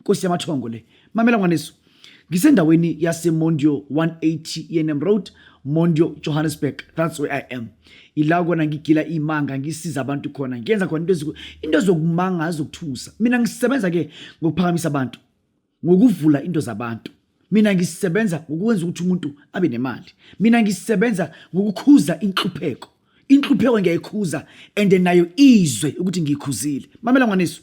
Nkosi yamathongo le. Mamela ngwaneso. Ngisendaweni yase Mondio 180 Yenem Road, Mondio Johannesburg. That's where I am. Ila kona ngigila imanga ngisiza abantu khona. Ngiyenza khona into eziku into ezokumanga azokuthusa. Mina ngisebenza ke ngokuphakamisa abantu. Ngokuvula into zabantu. Mina ngisebenza ngokwenza ukuthi umuntu abe nemali. Mina ngisebenza ngokukhuza inhlupheko. Inhlupheko ngiyayikhuza and nayo izwe ukuthi ngiyikhuzile. Mamela ngwaneso.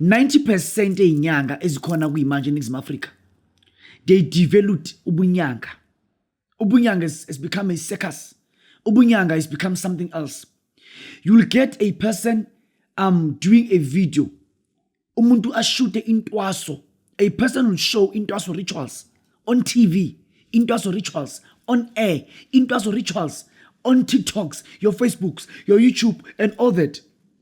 90 percent ey'nyanga ezikhona kuyimanje eningizimu afrika they developed ubunyanga ubunyanga has become a circus ubunyanga has become something else you'll get a person um doing a video umuntu ashute intwaso a person will show intwaso rituals on tv intwaso rituals on air intwaso rituals on tiktoks your facebooks your youtube and all that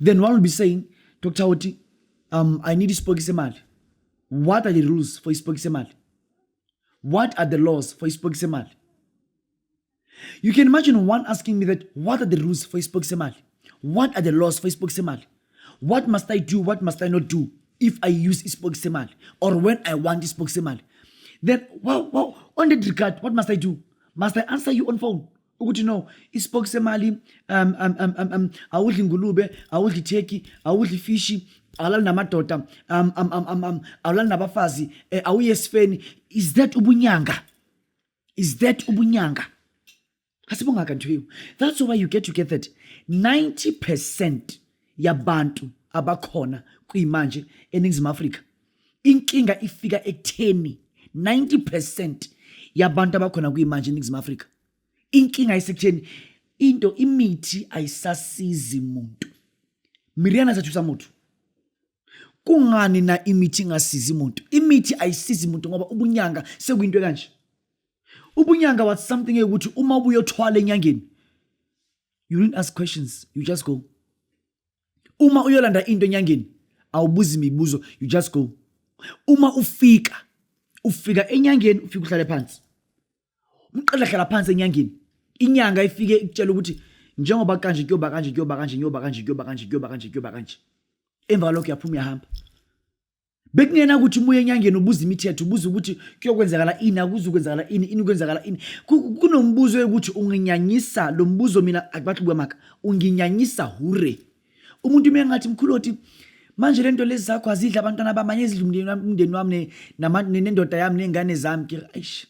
then one will be saying dr oti um, i need isipoki semali what are the rules for isipoki semali what are the laws for isipoki semali you can imagine one asking me that what are the rules for isipoki semali what are the laws for isipoki semali what must i do what must i not do if i use isipoki semali or when i want isipoki semali then wow, wow, on that regard what must i do must i answer you on phone ukuthi no isipoki semali um, um, um, um, um, awudli ingulube awudli itheki awudli ifishi awulali namadoda um, um, um, um, um, awulali nabafazi eh, awuye esifeni is that ubunyanga is that ubunyanga asibongaka nthiwu that's why you get to get that 90 percent yabantu abakhona kuyimanje eningizimu afrika inkinga ifika ekutheni 90 percent yabantu abakhona kuyimanje eningizimu afrika inkinga isekutheni into imithi ayisasizi muntu miriana sathusa muntu kungani na imithi ingasizi muntu imithi ayisizi muntu ngoba ubunyanga sekuyinto ekanje ubunyanga was something eyokuthi uma ubuyothwala enyangeni you didn't ask questions you just go uma uyolanda into enyangeni awubuzi imibuzo you just go uma ufika ufika enyangeni ufika uhlale phansi umqedla hlala phansi enyangeni inyanga ifike ikutshela ukuthi njengoba kanje kuyoba kanje kuyoba kanje kuyoba kanje kuyoba kanje kuyoba kanje kuyoba kanje emva kwalokho uyaphuma uyahamba bekungena ukuthi ubuye enyangeni ubuza imithetho ubuza ukuthi kuyokwenzakala ini akuze ukwenzakala ini ini kwenzakala ini kunombuzo yokuthi unginyanyisa lo mbuzo mina akubathi kwamaka unginyanyisa hure umuntu uma engathi mkhuloti manje lento lezi zakho azidla abantwana bamanye ezidla umndeni wami umndeni wami nendoda yami nengane zami ke aish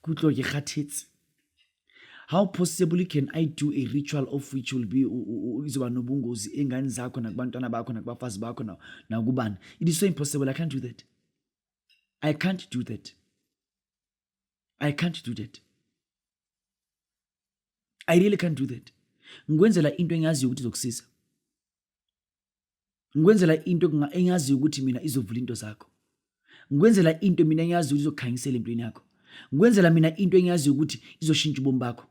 kutlo ke khathitsi how possibly can i do a ritual of which will be izoba nobungozi engane zakho nakubantwana bakho nakubafazi bakho nakubani it is so impossible i can't do that i can't do that i can't do that i really can't do that ngikwenzela into engiyaziyo ukuthi izokusiza ngikwenzela into engaziyo ukuthi mina izovula into zakho ngikwenzela into mina engiyaziyo ukuthi izokhanyisela empilweni yakho ngikwenzela mina into engiyaziyo ukuthi izoshintsha ubomi bakho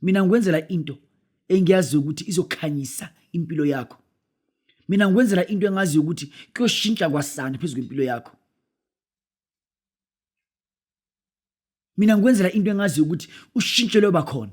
mina ngikwenzela into engiyaziyo ukuthi izokhanyisa impilo yakho mina ngikwenzela into engaziyo ukuthi kuyoshintsha kwasani phezu kwempilo yakho mina ngikwenzela into engaziyo ukuthi ushintsho loba khona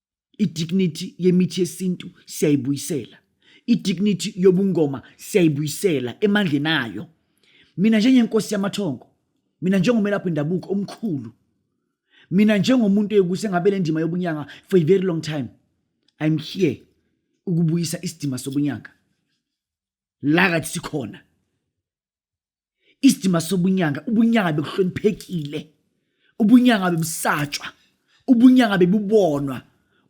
idignity yemithi yesintu siyayibuyisela idignity yobungoma siyayibuyisela emandleni ayo mina njengenkosi yamathongo mina njengomelaphi indabuko omkhulu mina njengomuntu eyokuse ngabe le ndima yobunyanga for a very long time i'm here ukubuyisa isidima sobunyanga la kathi sikhona isidima sobunyanga ubunyanga bekuhloniphekile ubunyanga bebusatshwa ubunyanga bebubonwa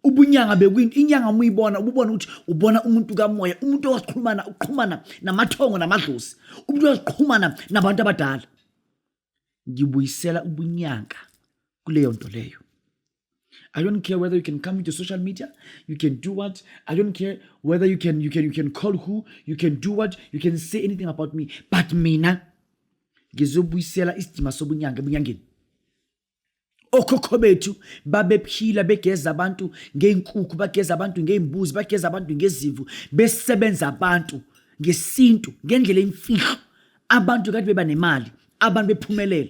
ubunyanga bekwini inyanga uma uyibona ububona ukuthi ubona umuntu kamoya umuntu owasiqhumana uqhumana namathongo namadlozi umuntu owasiqhumana nabantu abadala ngibuyisela ubunyanga kuleyo nto leyo I don't care whether you can come into social media, you can do what. I don't care whether you can you can you can call who, you can do what, you can say anything about me. But mina ngizobuyisela isidima sobunyanga ebunyangeni. Okhokho bethu babephila begeza abantu ngeenkukhu, bageza abantu ngeembuzi, bageza abantu ngezimvu, besebenza abantu ngesintu ngendlela emfihlo. Abantu kade beba nemali, abantu bephumelela.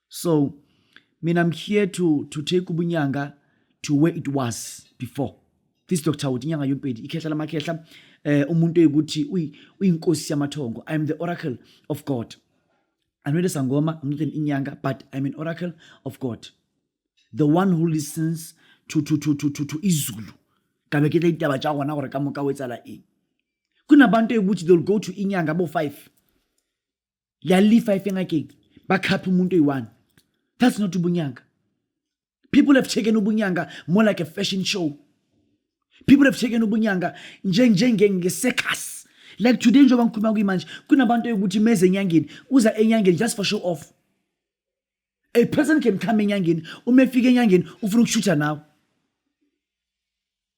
so mina i'm here to, to take ubunyanga to where it was before this doctor uthi inyanga yompedi ikhehla lamakhehla eh umuntu eyikuthi uyinkosi yamathongo i am the oracle of god i'm not a sangoma i'm not an inyanga but i'm an oracle of god the one who listens to, to, to, to, to, to izulu kabe ke ditaba tša gona gore ka moka o etsala eng kunabantu eyikuthi they'll go to inyanga bo five yalifa ifengakeki bakhapha umuntu oyi-one that's not ubunyanga people have taken ubunyanga more like a fashion show people have taken ubunyanga njengengesecus like today njengoba ngikhuluma kuyimanje kunabantu yokuthi meze enyangeni uza enyangeni just for show off a person can come enyangeni uma efika enyangeni ufuna ukushutha nawe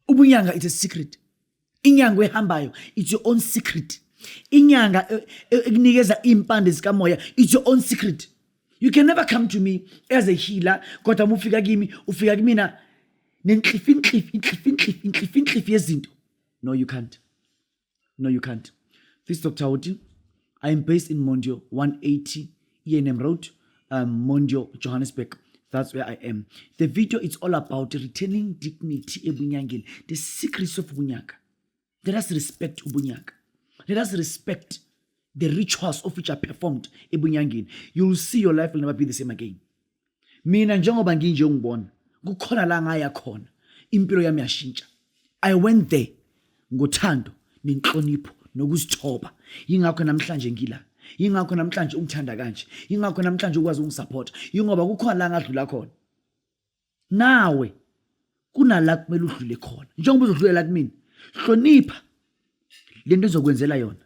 ubunyanga it's a secret inyanga ehambayo it's your own secret inyanga e, e, ekunikeza iy'mpande zikamoya it's your own secret you can never come to me as a healer kodwa uma ufika kimi ufika kumina nenhlifi inhlifi inhlifi inhlifi inhlifi inhlifi yezinto no you can't no you can't this dr oti i am based in mondio 180 enm road um, mondio johannesburg that's where i am the video is all about returning dignity ebunyangeni the secrets of ubunyaka let us respect ubunyaka let us respect the rituals of which are performed ebunyangeni you'll see your life will never be the same again mina njengoba nginje ungibona kukhona la ngaya khona impilo yami yashintsha i went there ngothando nenhlonipho nokuzithoba yingakho namhlanje ngila yingakho namhlanje ungithanda kanje yingakho namhlanje ukwazi ungisupporta yingoba kukhona la ngadlula khona nawe kunala kumele udlule khona njengoba uzodlulela kumina hlonipha lento ezokwenzela yona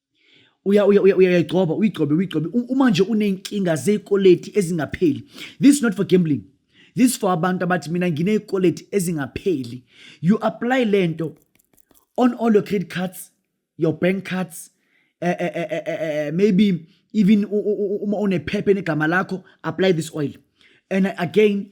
uyayigcoba uyigcobe uyigcobe uma nje uney'nkinga zey'koleti ezingapheli this is not for gambling this for abantu abathi mina nginey'koleti ezingapheli you apply le nto on all your credit cards your bank cards uh, uh, uh, maybe even uma unephepha enegama lakho apply this oil and again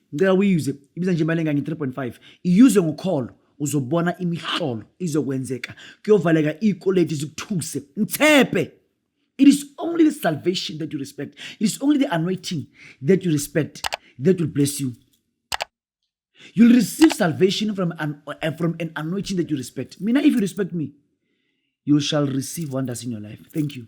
ngicela uyiyuze ibiza nje imali engange 3.5 iyuze ngokholo uzobona imihlolo izokwenzeka kuyovaleka ikoleti zikuthuse mthephe it is only the salvation that you respect it is only the anointing that you respect that will bless you you'll receive salvation from an, uh, from an anointing that you respect mina if you respect me you shall receive wonders in your life thank you